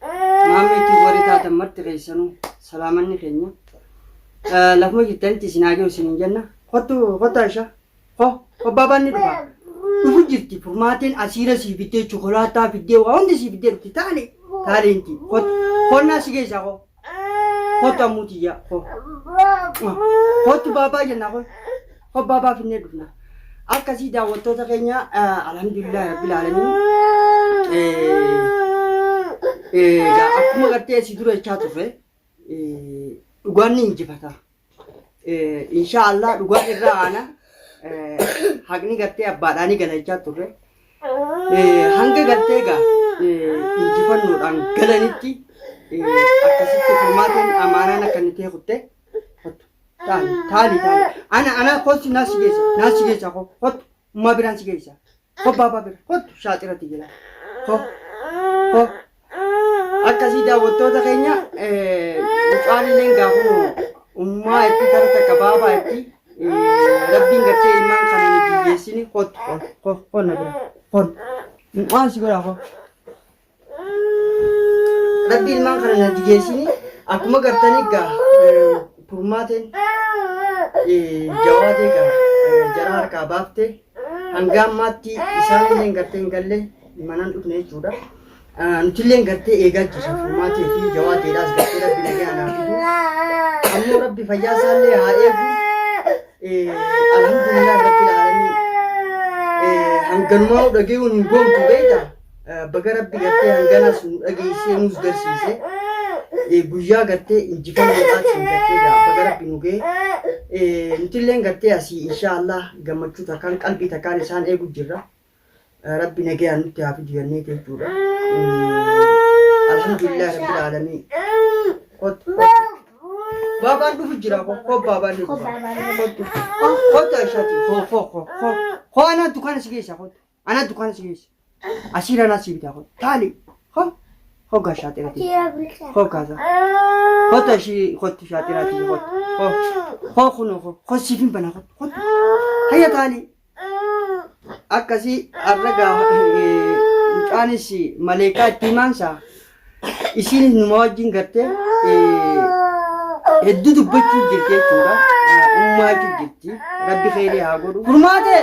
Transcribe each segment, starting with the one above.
Maamma itti warri taatan marti keessanuu salaamanni keenya. Eh, Lafuma jirtanitti isin haa ga'u isin hin jenna. Kottu kottu Aisha. Ho obbaabaan ni dhufa. Dhufu jirti furmaatiin asiira sii fiddee chokolaataa fiddee waa hundi sii fiddee dhufti taali taaliinti. Kottu konnaa si geessaa ho. Kottu ammuutiyyaa ho. Kottu baabaa jennaa ho. Hobbaa baafinnee dhufna. Akkasii daawwattoota keenya alhamdulillah rabbil aalamiin. Egaa akkuma gartee si dura jechaa turre dhugaan ni injifata. Inshaa Allah dhugaan irraa aana haqni gartee abbaadhaa ni gala jechaa turre. Hanga gartee egaa injifannoodhaan galanitti akkasitti furmaatiin amaanaan akka inni ta'e kutte Taali taali taali. Ana ana kosi nasi gesa nasi gesa ko hot ma biran si gesa. Ko baba bira hot shaatira ti jira. Ko ko akkasii daawwattoota keenya mucaan illee gaafuma ummaa itti kan takka baabaa itti rabbiin gartee ilmaan kana hin biyyeessini hot hot hot hot na bira hot mucaan si godhaa hot. Rabbi ilmaan kana na digeessini akkuma gartanii gaa kurmaateen jawaatee gaa jara harkaa baafte hanga ammaatti isaan illee gartee hin galle manaan dhufne jechuudha. Nuti illee gartee eegaa jirra kurmaatee fi jawaateedhaas gartee rabbi nagaa naa fidu. Ammoo rabbi fayyaa isaa illee haa eegu. Alhamdulillah rabbi laalamii hanganumaa dhagayuun hin goomtu beektaa. Baga rabbi gartee hanganas nu dhageessee nuus garsiise. Guyyaa gartee injifannoodhaatiin gartee baga rabbi nu ga'e. Nutilleen gartee asii inshaallah gammachuu takkaan qalbii takkaan isaan eegu jirra. Rabbi nagayaan nutti haa fidu jennee jechuudha. Alhamdulillah rabbil aalamiin. Kot kot. Baabaan dhufu jira ko ko baabaan dhufu. Kottu. Kottu ashaati ko ko ko ko. Ko anaa dukaana si keessa kottu. Ana dukaana si geessi. Asii ranaa si bitaa kun. Taali. Ho. Ho gaa shaaxira ti. Tira bulchaa. Ho kaasa. Ho ta ishii kotti shaaxira ti kotti. Ho. Ho kun ho. Ho siif hin bana kotti. Kotti. Hayya taali. Akkasii arra gaa eh, mucaanis maleekaa itti himaansa. Isiinis numa wajjin gartee eh, hedduu dubbachuu jirti jechuudha. Ummaachuu jirti. Rabbi keerii haa godhu. Furmaatee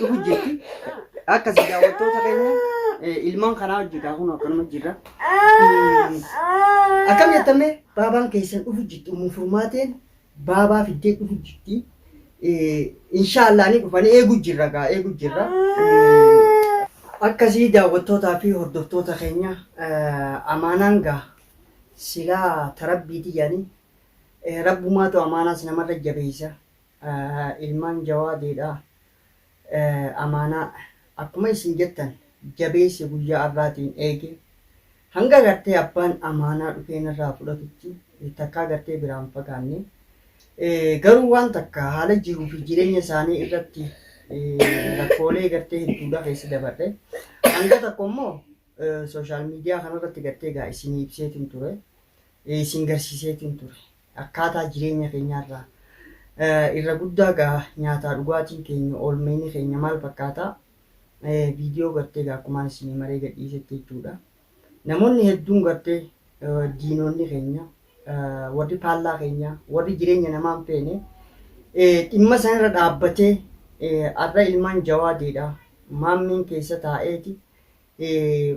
dhufu jirti. Akkasii daawwattoota keenya eh, ilmaan kanaa wajjin kaa kun akkanuma jirra. Akkam jettamee baabaan keessan dhufu jirti uumuu furmaateen baabaa fiddee dhufu jirti. Eh, Inshaallah ni dhufanii eegu jirra gaa eegu jirra. Eh, Akkasii daawwattootaa fi hordoftoota keenya eh, amaanaan gaa silaa tarabbiiti yaanii rabbumaatu amaanaas namarra jabeessa. ilmaan jawaadiidha amaanaa akkuma isin jettan jabeesse guyyaa arraatiin eege hanga gartee abbaan amaanaa dhufeen irraa fudhatutti takkaa gartee biraan fagaanne garuu waan takka haala jiruu fi jireenya isaanii irratti rakkoolee gartee hedduudha keessa dabarre hanga tokko immoo sooshaal miidiyaa kanarratti gartee gaa isin ibseetiin ture isin garsiiseetiin ture akkaataa jireenya keenyaarraa eh, irra guddaa gaa nyaataa dhugaatiin keenya oolmeeni keenya maal fakkaata Eh, viidiyoo gartee gaa akkumaan isinii maree gadhiisetti jechuudha. Namoonni hedduun gartee eh, diinonni keenya eh, warri faallaa keenya warri jireenya namaa hin feene eh, dhimma sanarra dhaabbatee eh, har'a ilmaan jawaadeedha maammiin keessa taa'eeti eh,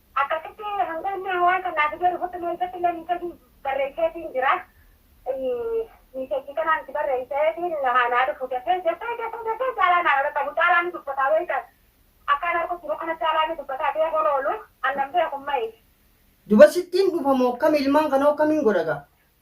Akkasitti hanga inni waan kan naa fidee dhufutti immoo isatti illee miiseejii barreesseetiin jira. Miiseejii kanaan itti barreesseetiin haa naa dhufu dafee dafee dafee dafee caalaa naa dhaqqabu caalaa ni dubbataa wayita akkaan arguu jiru kana caalaa ni dubbataa beekuun oolu annan beeku maif. Duba sittiin dhufa moo akkami ilmaan kanoo akkamiin godha gaa.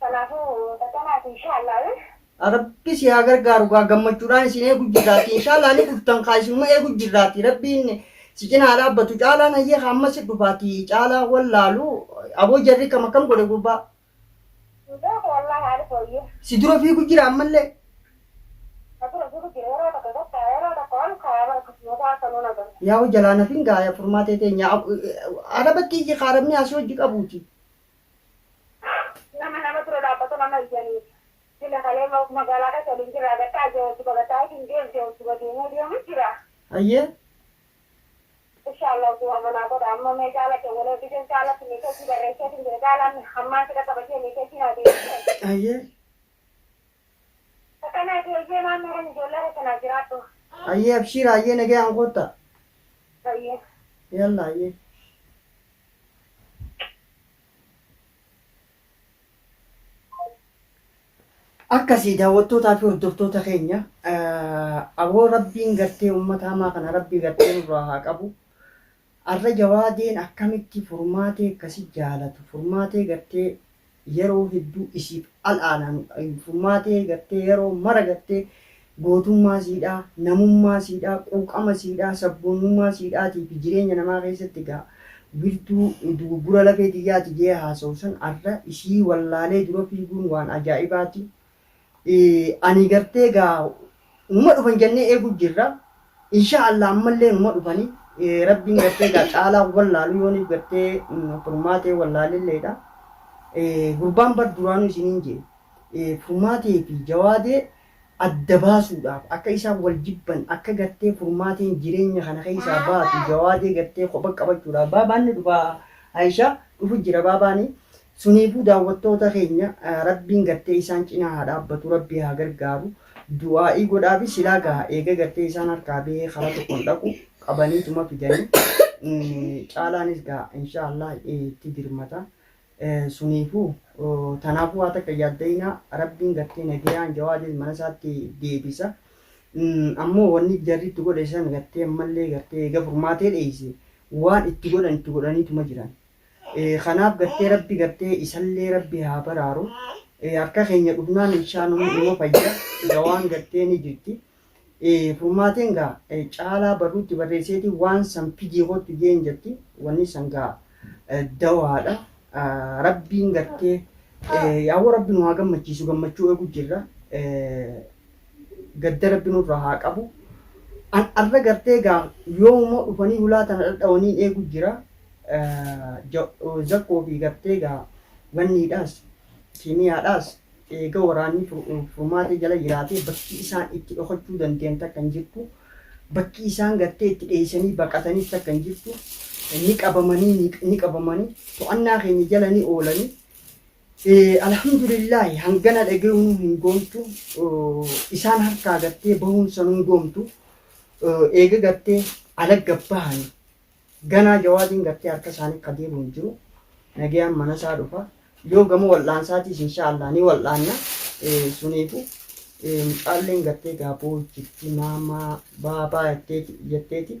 Kanaafuu xaxamaati inshaallah. Rabbi si haa gargaaru gaa gammachuudhaan isin eegu jirraati inshaallah ni dhuftan kaa isinuma eegu jirraati rabbiin si cinaa dhaabbatu caalaan hayyee haa ammas si dhufaati caalaa wallaalu aboo jarri kam akkam godhe gurbaa Beeku wallahi haali fooyyee. si dura fiigu jira ammallee Natura jiru jira yeroo tokko tokko yeroo tokko ol kaaya bara kosmoota akka nuun agarra. yaa hojjalaa nafin gaaya furmaatee teenya arabatti iyyi kaa rabni asii hojji qabuuti Nama nama dura dhaabbatu nama iyyanii sila kalee magaalaa keessa waliin jirra agartee ajee wajji bagataa isin deemte wajji badeemuu deemu jira. Hayyee. Insha Allah utuu amma naa godha amma mee caala kee wal ergite caalatti meesheejii barreesseetiin jira caalaan hammaan si dhaqqaba jee meesheejii naa deebisee. Hayyee. Akanaati eyyee maamma kan ijoollee keessa naa jiraadhu. Hayyee abshiira hayyee nagayaan koottaa. Hayyee. Yalla hayyee. Akkasii daawwattootaa fi hordoftoota keenya aboo rabbiin gartee uummata hamaa kana rabbii gartee nurraa haa qabu. Arra jawaadeen akkamitti furmaatee akkasi jaalatu furmaatee gartee yeroo hedduu isiif al aananu furmaatee gartee yeroo mara gartee gootummaa siidhaa namummaa siidhaa quuqama siidhaa sabboonummaa siidhaatii fi jireenya namaa keessatti gaa wirtuu duguggura lafee tiyyaati jee haasawu san arra isii wallaalee dura fiiguun waan ajaa'ibaati. Anii gartee gaa numa dhufan jannee eeguu jirra inshaa Allah ammallee numa dhufani rabbiin gartee gaa caalaa wallaalu yooniif gartee furmaatee wallaalilleedha gurbaan bar duraanuu isiniin jee furmaatee fi jawaadee adda baasuudhaaf akka isaan wal jibban akka gartee furmaateen jireenya kana keessaa baatu jawaadee gartee kopha qabachuudhaaf baabaanni dhufaa Aishaa dhufu jira baabaanii Suniifuu daawwattoota keenya rabbiin gartee isaan cinaa haa dhaabbatu rabbi haa gargaaru du'aa'ii godhaafi silaa gaha eega gartee isaan harkaa bahee karaa tokkoon dhaqu qabaniituma fidanii mm, caalaanis gaha inshaallah eh, itti dirmata Eh, suniifuu oh, tanaafuu waa takka yaaddayinaa rabbiin gartee nagayaan jawaadis mana isaatti deebisa Mm, ammoo wanni jarri itti godhe san gartee ammallee gartee eega furmaatee dheeyse waan itti godhan itti godhaniituma jiran Kanaaf gartee rabbi gartee isallee rabbi haa baraaru harka keenya dhufnaan inshaa numa numa fayya dawaan gartee ni jirti furmaateen gaa caalaa barruutti barreesseeti waan san fidii kottu jeen jetti wanni san gaa dawaadha rabbiin gartee yaa'u rabbi nu haa gammachiisu gammachuu eegu jirra gadda rabbi nurra haa qabu an arra gartee gaa yoomumoo dhufanii hulaa tana dhadhawaniin eegu jira zakkoo fi gartee gaa wanniidhaas kiimiyaadhaas eega waraanni furmaatee jala jiraatee bakki isaan itti dhokachuu danda'an takka hin jirtu bakki isaan gartee itti dheessanii baqatanis takka hin jirtu ni qabamanii ni qabamanii to'annaa keenya jala ni oolanii Alhamdulillaahi hangana dhagayuunuu hin goomtu isaan harkaa gattee bahuun sanuu hin goomtu eega gattee alagga bahani ganaa jawaadiin gattee harka isaanii ka deebi'u hin jiru nagayaan mana isaa dhufa yoo gama wal'aansaatiis inshaa Allah ni wal'aanna suniifu mucaalleen gattee gaaboo jirti maamaa baabaa jetteeti jetteeti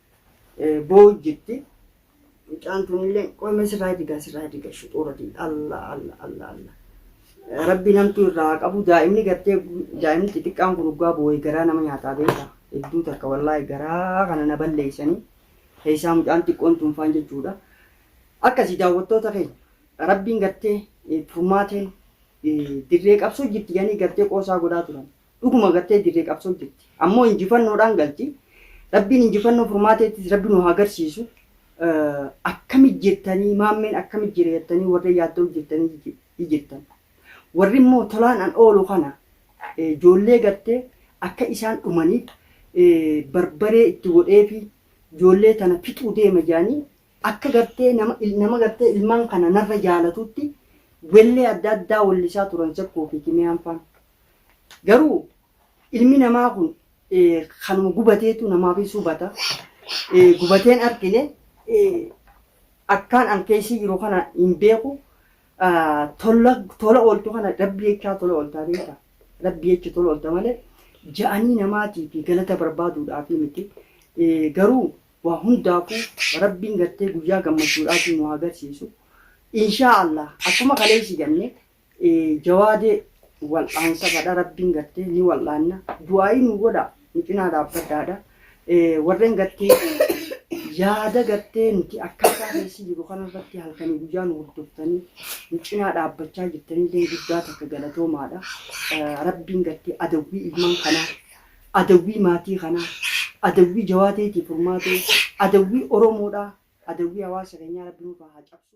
boo'u jirti. Mucaan tunillee qoy mee sirraa digaa sirraa diga shuxuuratiin alla alla alla alla. Rabbiin hamtuu irraa haa qabu daa'imni gartee daa'imni xixiqqaan kun dhugaa boo'e garaa nama nyaataa beekaa hedduu takka wallaahi garaa kana na balleessanii keessaa mucaan xiqqoon tunfaan jechuudha. Akkasii daawwattoota keenya rabbiin gartee furmaateen dirree qabsoo jirti jedhanii gartee qoosaa godhaa turan. dhuguma gartee dirree qabsoo jirti ammoo injifannoodhaan galti rabbiin injifannoo furmaateettis rabbi nu haa garsiisu akkami jirtanii maammeen akkami jira jettanii warri yaaddoo jirtanii jirtan warri immoo tolaan an oolu kana ijoollee gartee akka isaan dhumaniif barbaree itti godhee fi ijoollee tana fixuu deema jedhanii akka gartee nama nama gartee ilmaan kana narra jaalatutti wellee adda addaa wallisaa turan sakkoo fi kimiyaan faan Garuu ilmi namaa kun kanuma gubateetu namaafis hubata. Gubateen argine akkaan an keessa jiru kana hin beeku. Tola ooltu kana rabbi jechaa tola ooltaa beekta. Rabbi jecha tola oolta malee ja'anii namaatii fi galata barbaaduudhaaf miti. Garuu waa hundaafuu rabbiin gartee guyyaa gammachuudhaatiin nu agarsiisu. Inshaa Allah akkuma kaleessi ganne Jawaade wal'aansa kadha rabbiin gattee ni wal'aanna du'aa'ii nu godha nu cinaa dhaabbadhaadha warreen gattee yaada gattee nuti akkaataa keessi jiru kanarratti halkanii guyyaa nu hordoftanii nu cinaa dhaabbachaa jirtanillee guddaa takka galatoomaadha rabbiin gattee adawwii ilmaan kanaa adawwii maatii kanaa adawwii jawaateetii furmaatee adawwii oromoodhaa adawwii hawaasa keenyaa rabbiin haa cabsu.